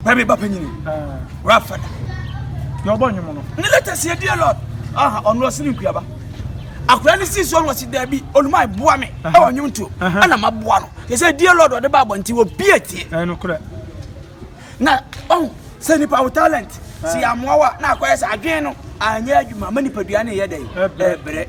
Wura mi ba panyini. Wura fada. Yɛ ɔbɔ nnwom no. Ne leta si edi lord. Aha ɔno ɔsi ne nkuaba. Akura ne si so ɔno ɔsi dɛbi oluma eboa mi ɛwɔ nnwom tuo. Ɛna ma boa no. Yɛ sɛ edi lord ɔde ba abɔnti wɔ bie tie. Ɛno korɛ. Na ɔn sɛ nipa wo talent si amoa wa na akɔyɛ sɛ adwene no anyɛ adwuma ma nipadua ne yɛ dɛ ɛbrɛ.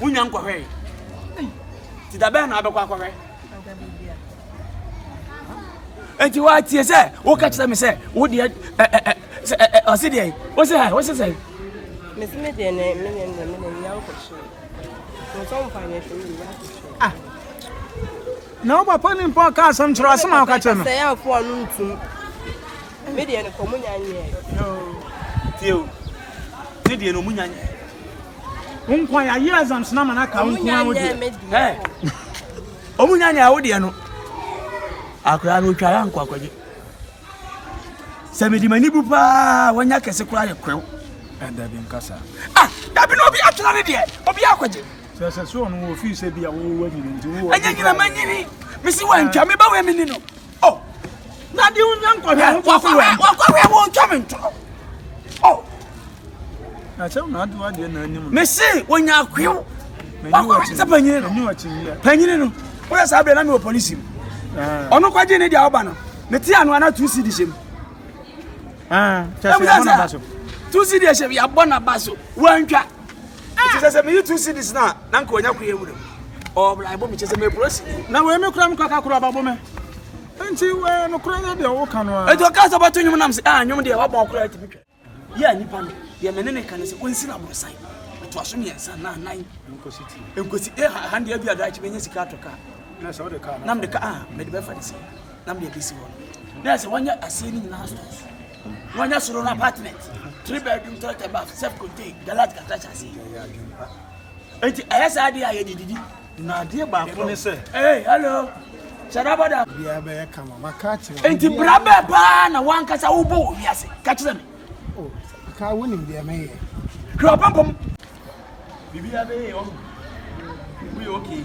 wonya nkɔhwɛe nti da bɛn na abɛkɔ akɔhwɛ nti woatie sɛ woka kyerɛ me sɛ wodeɛ ɔse deɛ wo se ha wo se sɛ mese me deɛ ne menyɛ ne mede nya nkɔhwɛ ah. na wo papa ne mpa ɔka asɛm kyerɛ asɛm a woka kyerɛ no Me deɛ no kɔ ɔmo nya nyɛɛ. Tie o, me deɛ no ɔmo nya nyɛɛ. Wo nkwa ya yɛ exams na ma na ka wo nkwa wo deɛ. Ɔmo nya nyɛɛ wo deɛ no. Akora no otwa ya nkɔ akɔgye. Sɛ me di m'ani bu paa wanya kɛse kora yɛ kwew. Ɛda bi nkasa. Ah, dabi na obi atwena ne deɛ, obi akɔgye. Sɛ sɛ so ɔno wɔ ofii sɛ bi a wo wɔ nyini nti wo wɔ. Ɛnyɛ nyina ma nyini. Mesi wantwa me ba wɔ emini no. Oh, na di unya nkɔhwɛ ho kɔ so wɛn. Wakɔhwɛ wo ntwa me ntorɔ. Oh. Na kyɛw na adi wadeɛ na anim. Me se wonya akwew. Wakɔhwɛ sɛ panyini no. Panyini no. Woyɛ saa berɛ na mewɔ polisi mu. Ah. Ɔno kɔgye ne deɛ awoba no. Mete ano ana tu si de hyɛ mu. Ah, kyɛ sɛ yɛabɔ na ba so. Tu si de hyɛ mu yɛabɔ na ba so. Wantwa. Ɛti sɛ sɛ meyi two cities no a, na nka wanya koe awura mu. Ɔbla ɛbɔ me kyɛ sɛ meporo si. Na wei me kora me kaka koro ababo me. Nti wei no kora yɛ deɛ wo ka no a. Ɛti ɔka sɛ ɔbɛto nwom nam sɛ ah nwom deɛ wabɔ ɔkora ɛti bitwa. Yɛ a nipa no deɛ mene ne ka ne sɛ ɔnsi na borosan. Ɛto aso mmiɛnsa na nan. Nkosi ti. Nkosi eh ha ha deɛ bi adaakye menya sika atɔ kaa. Na sɛ ɔde kaa. Nam de ka ah mede bɛfa de si. Nam deɛ bɛsi hɔ. Na sɛ wɔnyɛ aseɛ ne nyinaa stores. na ɔnya soro no apartment three bedroom toilet and bath self contained galat kakra kyɛ ase nti ɛyɛ saa adeɛ a yɛde didi na adeɛ baako ne sɛ hey hello sɛdabɔda biara bɛyɛ kama maka akyerɛ nti bra bɛɛ paa na wankasa wobɔ wɔ wiase ka kyerɛ me oh, ka wonim deɛ mɛyɛ hwɛ ɔpampam biribiara bɛyɛ ɔhu woyɛ okay